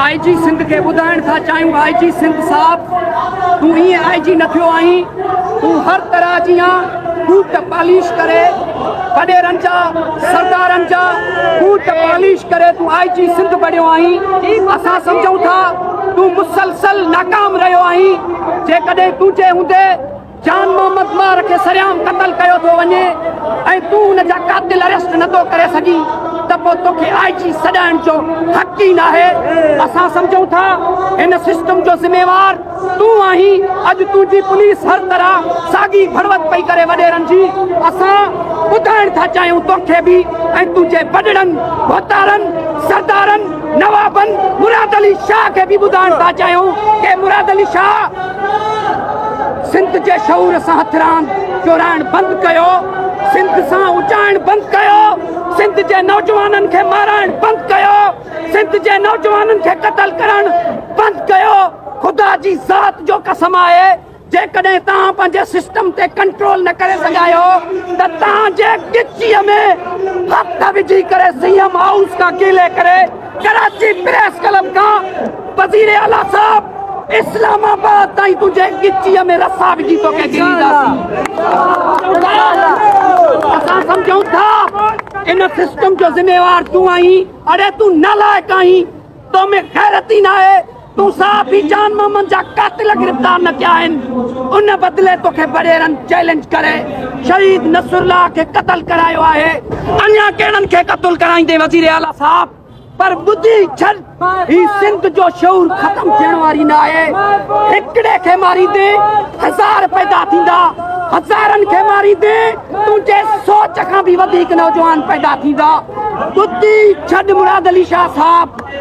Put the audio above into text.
آء G Sindh کي ٻڌائڻ ٿا چاهيون آء جي سنڌ صاحب تون ائين آء جي نه ٿيو آهين تون هر طرح جيان بوٽ پاليش ڪري وڏيرن جا سردارن جا بوٽ پاليش ڪري تون آء جي سنڌ بڻيو آهين اسان سمجهون ٿا تون مسلسل ناڪام رهيو آهين جيڪڏهن تنهنجي هوندي جان محمد مار کي سرعام قتل ڪيو ٿو وڃي ۽ تون ان جا قاتل اريسٽ نه ٿو ڪري سگهين ته پوء توکي آء جي سڏائڻ جو حق ئي ناهي اسان سمجهون ٿا هن سسٽم جو ذميوار تون آهين اڄ تنهنجي پوليس هر طرح ساڳي ڀڙوت پئي ڪري وڏيرن جي اسان ٻڌائڻ ٿا چاهيون توکي به ۽ تنهنجي وڏڙن ڀوتارن سردارن نوابن مراد علي شاهه کي به ٻڌائڻ ٿا چاهيون ڪي مراد علي شاهه سنڌ جي شعور سان هٿ راند چورائڻ بند ڪيو سنڌ سان اچائڻ بند ڪيو سنڌ جي نوجوانن کي مارائڻ بند ڪيو سنڌ جي نوجوانن کي قتل ڪرڻ بند ڪيو خدا جي ذات جو قسم آهي جيڪڏهن توهان پنهنجي سسٽم تي ڪنٽرول نه ڪري سگهايو ته توهان جي ڳچيء ۾ هٿ وجهي ڪري سي ايم هائوس کان ڪيلي ڪري ڪراچي پريس ڪلب کان وزير اعليٰ صاحب اسلام آباد تائين تنهنجي ڳچيء ۾ رسا وجهي توکي ڊينداسين اسان سمجهون ٿا ان سسٽم جو ذميوار تون آهين اڙي تون نالائق آهين تو ۾ غيرت ئي ناهي تون صاحب هي جان محمد جا قاتل گرفتار نه ٿيا آهن ان بدلي توکي بڙيرن چئلينج ڪري شهيد نصر الله کي قتل ڪرايو آهي اڃا ڪهڙن کي قتل ڪرائيندين وزير اعليٰ صاحب پر ٻڌي ڇڏ هي سنڌ جو شعور ختم ٿيڻ واري نه آهي هڪڙي کي ماريندين هزار پيدا ٿيندا هزارن کي ماريندين تنهنجي سوچ کان به وڌيڪ نوجوان پيدا ٿيندا ٻڌي ڇڏ مراد علي شاهه صاحب